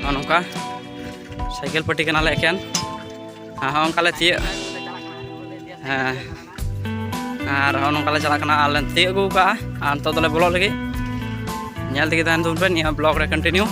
ᱱᱚᱜᱼᱚ ᱱᱚᱝᱠᱟ ᱥᱟᱭᱠᱮᱞ ᱯᱟᱹᱴᱤ ᱠᱟᱱᱟᱞᱮ ᱮᱠᱮᱱ ᱦᱚᱸ ᱚᱱᱠᱟᱞᱮ ᱛᱤᱭᱟᱹᱜ ᱦᱮᱸ ᱟᱨ ᱦᱚᱸ ᱱᱚᱝᱠᱟᱞᱮ ᱪᱟᱞᱟᱜ ᱠᱟᱱᱟ ᱟᱨᱞᱮ ᱛᱤᱭᱟᱹᱜ ᱟᱹᱜᱩ ᱠᱟᱜᱼᱟ ᱟᱨ ᱱᱤᱛᱚᱜ ᱫᱚᱞᱮ ᱵᱚᱞᱚᱜ ᱞᱟᱹᱜᱤᱫ ᱧᱮᱞ ᱛᱮᱜᱮ ᱛᱟᱦᱮᱱ ᱛᱟᱵᱚᱱ ᱯᱮ ᱱᱤᱭᱟᱹ ᱵᱞᱚᱜ ᱨᱮ ᱠᱚᱱᱴᱤᱱᱤᱭᱩ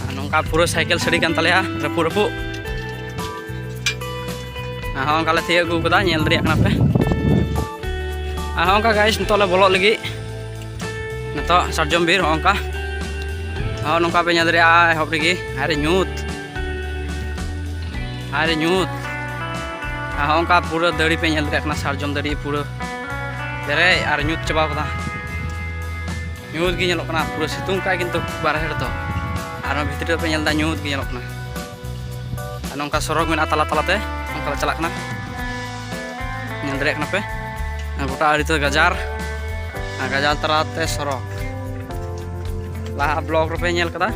ᱟᱨ ᱱᱚᱝᱠᱟ ᱯᱩᱨᱟᱹ ᱥᱟᱭᱠᱮᱞ ᱥᱟᱹᱲᱤ ᱠᱟᱱ ᱛᱟᱞᱮᱭᱟ ᱨᱟᱹᱯᱩᱫ ᱨᱟᱹᱯᱩᱫ ᱟᱨ ᱦᱚᱸ ᱚᱱᱠᱟᱞᱮ ᱛᱤᱭᱟᱹᱜ ᱟᱹᱜᱩ ᱠᱟᱫᱟ ᱧᱮᱞ ᱫᱟᱲᱮᱭᱟᱜ ᱠᱟᱱᱟ ᱯᱮ ᱟᱨ ᱦᱚᱸ ᱚᱱᱠᱟ ᱜᱟᱭᱤᱥ ᱱᱤᱛᱚᱜ ᱞᱮ ᱵᱚᱞᱚᱜ ᱞᱟᱹᱜᱤᱫ ᱱᱤᱛᱚᱜ ᱥᱟᱨᱡᱚᱢ ᱵᱤᱨ ᱦᱚᱸ ᱚᱱᱠᱟ ᱦᱚᱸ ᱱᱚᱝᱠᱟ ᱯᱮ ᱧᱮᱞ ᱫᱟᱲᱮᱭᱟᱜᱼᱟ ᱮᱦᱚᱵ ᱨᱮᱜᱮ ᱟᱨ ᱧᱩᱛ ᱟᱨ ᱧᱩᱛ ᱦᱚᱸ ᱚᱱᱠᱟ ᱯᱩᱨᱟᱹ ᱫᱟᱹᱲᱤ ᱯᱮ ᱧᱮᱞ ᱫᱟᱲᱮᱭᱟᱜ ᱠᱟᱱᱟ ᱥᱟᱨᱡᱚᱢ ᱫᱟᱹᱲᱤ ᱯᱩᱨᱟᱹ ᱯᱮᱨᱮᱡ ᱟᱨ ᱧᱩᱛ ᱪᱟᱵᱟ ᱠᱟᱫᱟ ᱧᱩᱛ ᱜᱮ ᱧᱮᱞᱚᱜ ᱠᱟᱱᱟ ᱯᱩᱨᱟᱹ ᱥᱤᱛᱩᱝ ᱠᱟᱜᱼᱟᱭ ᱠᱤᱱᱛᱩ ᱵᱟᱨᱦᱮ ᱨᱮᱫᱚ ᱟᱨ ᱵᱷᱤᱛᱨᱤ ᱨᱮᱯᱮ ᱧᱮᱞ ᱮᱫᱟ ᱧᱩᱛ ᱜᱮ ᱧᱮᱞᱚᱜ ᱠᱟᱱᱟ ᱱᱚᱝᱠᱟ ᱥᱚᱨᱚᱜᱽ ᱢᱮᱱᱟᱜᱼᱟ ᱛᱟᱞᱟ ᱛᱟᱞᱟᱛᱮ ᱚᱱᱠᱟ ᱞᱮ ᱪᱟᱞᱟᱜ ᱠᱟᱱᱟ ᱧᱮᱞ ᱫᱟᱲᱮᱭᱟᱜ ᱠᱟᱱᱟ ᱯᱮ ᱜᱚᱴᱟ ᱟᱹᱰᱤ ᱛᱮ ᱜᱟᱡᱟᱨ ᱜᱟᱡᱟᱨ ᱛᱟᱞᱟᱛᱮ ᱥᱚᱨᱚᱜᱽ ᱞᱟᱦᱟ ᱵᱞᱚᱜ ᱨᱮᱯᱮ ᱧᱮᱞ ᱠᱟᱫᱟ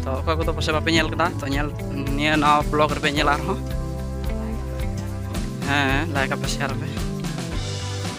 ᱛᱚ ᱚᱠᱚᱭ ᱠᱚᱫᱚ ᱯᱟᱥᱮ ᱵᱟᱯᱮ ᱧᱮᱞ ᱠᱟᱫᱟ ᱛᱚ ᱧᱮᱞ ᱱᱤᱭᱟᱹ ᱱᱟᱣᱟ ᱵᱞᱚᱜ ᱨᱮᱯᱮ ᱧᱮᱞᱟ ᱟᱨᱦᱚᱸ ᱦᱮᱸ ᱞᱟᱭᱤᱠ ᱟᱯᱮ ᱥᱮᱭᱟᱨ ᱟᱯᱮ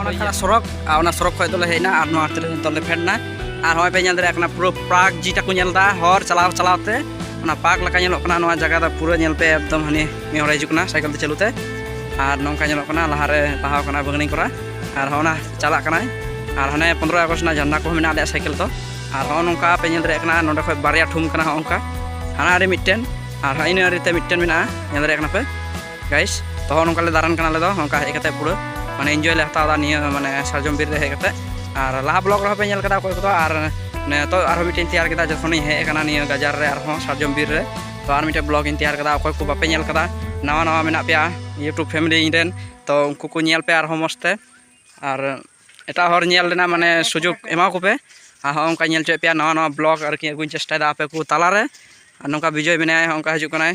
ᱚᱱᱟ ᱠᱟᱱᱟ ᱥᱚᱲᱚᱠ ᱟᱨ ᱚᱱᱟ ᱥᱚᱲᱚᱠ ᱠᱷᱚᱡ ᱫᱚᱞᱮ ᱦᱮᱡ ᱮᱱᱟ ᱟᱨ ᱱᱚᱣᱟ ᱛᱮᱞᱮ ᱱᱤᱛᱚᱜ ᱞᱮ ᱯᱷᱮᱰ ᱮᱱᱟ ᱟᱨ ᱦᱚᱸᱜᱼᱚᱭ ᱯᱮ ᱧᱮᱞ ᱫᱟᱲᱮᱭᱟᱜ ᱠᱟᱱᱟ ᱯᱩᱨᱟᱹ ᱯᱟᱨᱠ ᱡᱮᱴᱟ ᱠᱚ ᱧᱮᱞ ᱮᱫᱟ ᱦᱚᱨ ᱪᱟᱞᱟᱣ ᱪᱟᱞᱟᱣ ᱛᱮ ᱚᱱᱟ ᱯᱟᱨᱠ ᱞᱮᱠᱟ ᱧᱮᱞᱚᱜ ᱠᱟᱱᱟ ᱱᱚᱣᱟ ᱡᱟᱭᱜᱟ ᱫᱚ ᱯᱩᱨᱟᱹ ᱧᱮᱞ ᱯᱮ ᱮᱠᱫᱚᱢ ᱦᱟᱹᱱᱤ ᱢᱤᱫ ᱦᱚᱲᱮ ᱦᱤᱡᱩᱜ ᱠᱟᱱᱟ ᱥᱟᱭᱠᱮᱞ ᱛᱮ ᱪᱟᱹᱞᱩ ᱛᱮ ᱟᱨ ᱱᱚᱝᱠᱟ ᱧᱮᱞᱚᱜ ᱠᱟᱱᱟ ᱞᱟᱦᱟᱨᱮ ᱞᱟᱦᱟᱣ ᱠᱟᱱᱟ ᱵᱟᱹᱜᱽᱱᱤ ᱠᱚᱨᱟ ᱟᱨ ᱦᱚᱸᱜᱼᱚ ᱱᱟ ᱪᱟᱞᱟᱜ ᱠᱟᱱᱟᱭ ᱟᱨ ᱦᱟᱱᱮ ᱯᱚᱱᱨᱚ ᱟᱜᱚᱥᱴ ᱨᱮᱱᱟᱜ ᱡᱷᱟᱱᱰᱟ ᱠᱚᱦᱚᱸ ᱢᱮᱱᱟᱜ ᱟᱞᱮᱭᱟᱜ ᱥᱟᱭᱠᱮᱞ ᱫᱚ ᱟᱨ ᱦᱚᱸᱜᱼᱚ ᱱᱚᱝᱠᱟ ᱯᱮ ᱧᱮᱞ ᱫᱟᱲᱮᱭᱟᱜ ᱠᱟᱱᱟ ᱱᱚᱸᱰᱮ ᱠᱷᱚᱡ ᱵᱟᱨᱭᱟ ᱴᱷᱩᱢ ᱠᱟᱱᱟ ᱦᱚᱸᱜᱼᱚ ᱱᱚᱝᱠᱟ ᱦᱟᱱᱟ ᱟᱹᱰᱤ ᱢᱤᱫᱴᱮᱱ ᱟᱨ ᱤᱱᱟᱹ ᱟᱹᱰᱤᱛᱮ ᱢᱤᱫᱴᱮᱱ ᱢᱮᱱᱟᱜᱼᱟ ᱧᱮᱞ ᱫᱟᱲᱮᱭᱟᱜ ᱠᱟᱱᱟ ᱯᱮ ᱜᱟᱭᱤᱥ ᱛᱚ ᱦᱚᱸ ᱱᱚᱝᱠᱟ ᱞᱮ ᱫᱟᱬᱟᱱ ᱠᱟᱱᱟ ᱟᱞᱮ ᱫᱚ ᱱᱚᱝᱠᱟ ᱦᱮᱡ ᱠᱟᱛᱮ ᱯᱩᱨᱟᱹ ᱢᱟᱱᱮ ᱮᱱᱡᱚᱭ ᱞᱮ ᱦᱟᱛᱟᱣ ᱮᱫᱟ ᱱᱤᱭᱟᱹ ᱢᱟᱱᱮ ᱥᱟᱨᱡᱚᱢ ᱵᱤᱨ ᱨᱮ ᱦᱮᱡ ᱠᱟᱛᱮ ᱟᱨ ᱞᱟᱦᱟ ᱵᱞᱚᱜ ᱨᱮᱦᱚᱸ ᱯᱮ ᱧᱮᱞ ᱠᱟᱫᱟ ᱚᱠᱚᱭ ᱠᱚᱫᱚ ᱟᱨ ᱱᱤᱛᱚᱜ ᱟᱨᱦᱚᱸ ᱢᱤᱫᱴᱮᱱ ᱛᱮᱭᱟᱨ ᱠᱮᱫᱟ ᱡᱚᱠᱷᱚᱱᱤᱧ ᱦᱮᱡ ᱟᱠᱟᱱᱟ ᱱᱤᱭᱟᱹ ᱜᱟᱡᱟᱨ ᱨᱮ ᱟᱨᱦᱚᱸ ᱥᱟᱨᱡᱚᱢ ᱵᱤᱨ ᱨᱮ ᱛᱚ ᱟᱨ ᱢᱤᱫᱴᱮᱱ ᱵᱞᱚᱜ ᱤᱧ ᱛᱮᱭᱟᱨ ᱠᱟᱫᱟ ᱚᱠᱚᱭ ᱠᱚ ᱵᱟᱯᱮ ᱧᱮᱞ ᱠᱟᱫᱟ ᱱᱟᱣᱟ ᱱᱟᱣᱟ ᱢᱮᱱᱟᱜ ᱯᱮᱭᱟ ᱤᱭᱩᱴᱩᱵᱽ ᱯᱷᱮᱢᱤᱞᱤ ᱤᱧ ᱨᱮᱱ ᱛᱚ ᱩᱱᱠᱩ ᱠᱚ ᱧᱮᱞ ᱯᱮ ᱟᱨᱦᱚᱸ ᱢᱚᱡᱽ ᱛᱮ ᱟᱨ ᱮᱴᱟᱜ ᱦᱚᱲ ᱧᱮᱞ ᱨᱮᱱᱟᱜ ᱢᱟᱱᱮ ᱥᱩᱡᱳᱜᱽ ᱮᱢᱟ ᱠᱚᱯᱮ ᱟᱨ ᱦᱚᱸ ᱚᱱᱠᱟ ᱧᱮᱞ ᱦᱚᱪᱚᱭᱮᱫ ᱯᱮᱭᱟ ᱱᱟᱣᱟ ᱱᱟᱣᱟ ᱵᱞᱚᱜ ᱟᱨᱠᱤ ᱟᱹᱜᱩᱧ ᱪᱮᱥᱴᱟᱭᱮᱫᱟ ᱟᱯᱮ ᱠᱚ ᱛᱟᱞᱟᱨᱮ ᱟᱨ ᱱᱚᱝᱠᱟ ᱵᱤᱡᱚᱭ ᱢᱮᱱᱟᱭᱟ ᱚᱱᱠᱟ ᱦᱤᱡᱩᱜ ᱠᱟᱱᱟᱭ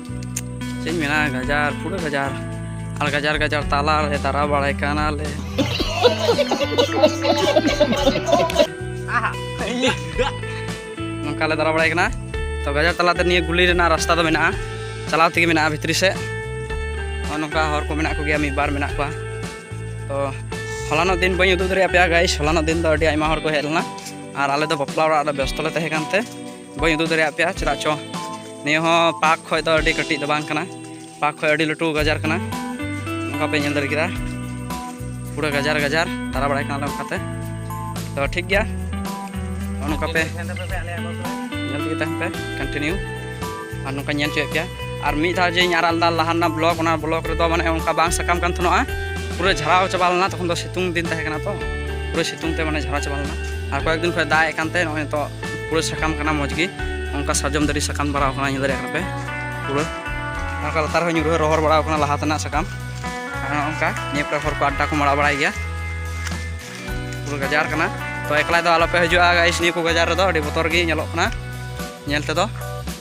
ᱪᱮᱫ ᱢᱮᱱᱟ ᱜᱟᱡᱟᱲ ᱯᱩᱨᱟᱹ ᱜᱟᱡᱟᱲ ᱟᱨ ᱜᱟᱡᱟᱲ ᱜᱟᱡᱟᱲ ᱛᱟᱞᱟ ᱨᱮ ᱫᱟᱨᱟ ᱵᱟᱲᱟᱭ ᱠᱟᱱᱟᱞᱮ ᱱᱚᱝᱠᱟ ᱞᱮ ᱫᱟᱨᱟ ᱵᱟᱲᱟᱭ ᱠᱟᱱᱟ ᱛᱚ ᱜᱟᱡᱟᱲ ᱛᱟᱞᱟᱛᱮ ᱱᱤᱭᱟᱹ ᱜᱩᱞᱤ ᱨᱮᱱᱟᱜ ᱨᱟᱥᱛᱟ ᱫᱚ ᱢᱮᱱᱟᱜᱼᱟ ᱪᱟᱞᱟᱣ ᱛᱮᱜᱮ ᱢᱮᱱᱟᱜᱼᱟ ᱵᱷᱤᱛᱨᱤ ᱥᱮᱫ ᱱᱚᱜᱼᱚ ᱱᱚᱝᱠᱟ ᱦᱚᱲ ᱠᱚ ᱢᱮᱱᱟᱜ ᱠᱚᱜᱮᱭᱟ ᱢᱤᱫ ᱵᱟᱨ ᱢᱮᱱᱟᱜ ᱠᱚᱣᱟ ᱛᱚ ᱦᱚᱞᱟᱱᱚᱜ ᱫᱤᱱ ᱵᱟᱹᱧ ᱩᱫᱩᱜ ᱫᱟᱲᱮᱭᱟᱜ ᱯᱮᱭᱟ ᱜᱟᱭᱤᱥ ᱦᱚᱞᱟᱱᱚᱜ ᱫᱤᱱ ᱫᱚ ᱟᱹᱰᱤ ᱟᱭᱢᱟ ᱦᱚᱲ ᱠᱚ ᱦᱮᱡ ᱞᱮᱱᱟ ᱟᱨ ᱟᱞᱮ ᱫᱚ ᱵᱟᱯᱞᱟ ᱚᱲᱟᱜ ᱨᱮ ᱵᱮᱥᱛᱚ ᱞᱮ ᱛᱟᱦᱮᱸ ᱠᱟᱱᱛᱮ ᱵᱟᱹᱧ ᱩᱫᱩᱜ ᱫᱟᱲᱮᱭᱟᱜ ᱯᱮᱭᱟ ᱪᱮᱫᱟᱜ ᱪᱚ ᱱᱤᱭᱟᱹ ᱦᱚᱸ ᱯᱟᱨᱠ ᱠᱷᱚᱡ ᱫᱚ ᱟᱹᱰᱤ ᱠᱟᱹᱴᱤᱡ ᱫᱚ ᱵᱟᱝ ᱠᱟᱱᱟ ᱯᱟᱨᱠ ᱠᱷᱚᱡ ᱟᱹᱰᱤ ᱞᱟᱹᱴᱩ ᱜᱟᱡᱟᱨ ᱠᱟᱱᱟ ᱚᱱᱠᱟ ᱯᱮ ᱧᱮᱞ ᱫᱟᱲᱮ ᱠᱮᱫᱟ ᱯᱩᱨᱟᱹ ᱜᱟᱡᱟᱨ ᱜᱟᱡᱟᱨ ᱫᱟᱬᱟ ᱵᱟᱲᱟᱭ ᱠᱟᱱᱟᱞᱮ ᱚᱱᱠᱟᱛᱮ ᱛᱚ ᱴᱷᱤᱠ ᱜᱮᱭᱟ ᱱᱚᱝᱠᱟ ᱯᱮ ᱧᱮᱞ ᱛᱮᱜᱮ ᱛᱟᱦᱮᱱ ᱯᱮ ᱠᱚᱱᱴᱤᱱᱤᱭᱩ ᱟᱨ ᱱᱚᱝᱠᱟ ᱧᱮᱞ ᱦᱚᱪᱚᱭᱮᱫ ᱯᱮᱭᱟ ᱟᱨ ᱢᱤᱫ ᱫᱷᱟᱣ ᱡᱮᱧ ᱟᱨᱟᱜ ᱞᱮᱫᱟ ᱞᱟᱦᱟ ᱨᱮᱱᱟᱜ ᱵᱞᱚᱠ ᱚᱱᱟ ᱵᱞᱚᱠ ᱨᱮᱫᱚ ᱢᱟᱱᱮ ᱚᱱᱠᱟ ᱵᱟᱝ ᱥᱟᱠᱟᱢ ᱠᱟᱱ ᱛᱟᱦᱮᱱᱚᱜᱼᱟ ᱯᱩᱨᱟᱹ ᱡᱷᱟᱨᱟᱣ ᱪᱟᱵᱟ ᱞᱮᱱᱟ ᱛᱚᱠᱷᱚᱱ ᱫᱚ ᱥᱤᱛᱩᱝ ᱫᱤᱱ ᱛᱟᱦᱮᱸ ᱠᱟᱱᱟ ᱛᱚ ᱯᱩᱨᱟᱹ ᱥᱤᱛᱩᱝ ᱛᱮ ᱢᱟᱱᱮ ᱡᱷᱟᱨᱟᱣ ᱪᱟᱵᱟ ᱞᱮᱱᱟ ᱟᱨ ᱠᱚᱭᱮᱠ ᱫᱤᱱ ᱠᱷᱚᱡ ᱫᱟᱜ ᱮᱫ ᱠᱟᱱᱛᱮ ᱱᱚᱜᱼᱚᱭ ᱱᱤᱛᱚᱜ ᱯᱩᱨᱟᱹ ᱥᱟᱠᱟᱢ ᱠᱟᱱᱟ ᱢᱚᱡᱽ ᱜᱮ ᱚᱱᱠᱟ ᱥᱟᱨᱡᱚᱢ ᱫᱟᱨᱮ ᱥᱟᱠᱟᱢ ᱵᱟᱲᱟᱣ ᱠᱟᱱᱟ ᱧᱮᱞ ᱫᱟᱲᱮᱭᱟᱜ ᱠᱟᱱᱟ ᱯᱮ ᱯᱩᱨᱟᱹ ᱚᱱᱠᱟ ᱞᱟᱛᱟᱨ ᱦᱚᱸ ᱧᱩᱨᱦᱟᱹ ᱨᱚᱦᱚᱲ ᱵᱟᱲᱟᱣ ᱠᱟᱱᱟ ᱞᱟᱦᱟ ᱛᱮᱱᱟᱜ ᱥᱟᱠᱟᱢ ᱟᱨ ᱚᱱᱠᱟ ᱱᱤᱭᱟᱹ ᱠᱚᱨᱮ ᱦᱚᱲ ᱠᱚ ᱟᱰᱰᱟ ᱠᱚ ᱢᱟᱲᱟᱣ ᱵᱟᱲᱟᱭ ᱜᱮᱭᱟ ᱯᱩᱨᱟᱹ ᱜᱟᱡᱟᱲ ᱠᱟᱱᱟ ᱛᱚ ᱮᱠᱞᱟ ᱫᱚ ᱟᱞᱚᱯᱮ ᱦᱤᱡᱩᱜᱼᱟ ᱜᱟᱭᱤᱥ ᱱᱤᱭᱟᱹ ᱠᱚ ᱜᱟᱡᱟᱲ ᱨᱮᱫᱚ ᱟᱹᱰᱤ ᱵᱚᱛᱚᱨ ᱜᱮ ᱧᱮᱞᱚᱜ ᱠᱟᱱᱟ ᱧᱮᱞ ᱛᱮᱫᱚ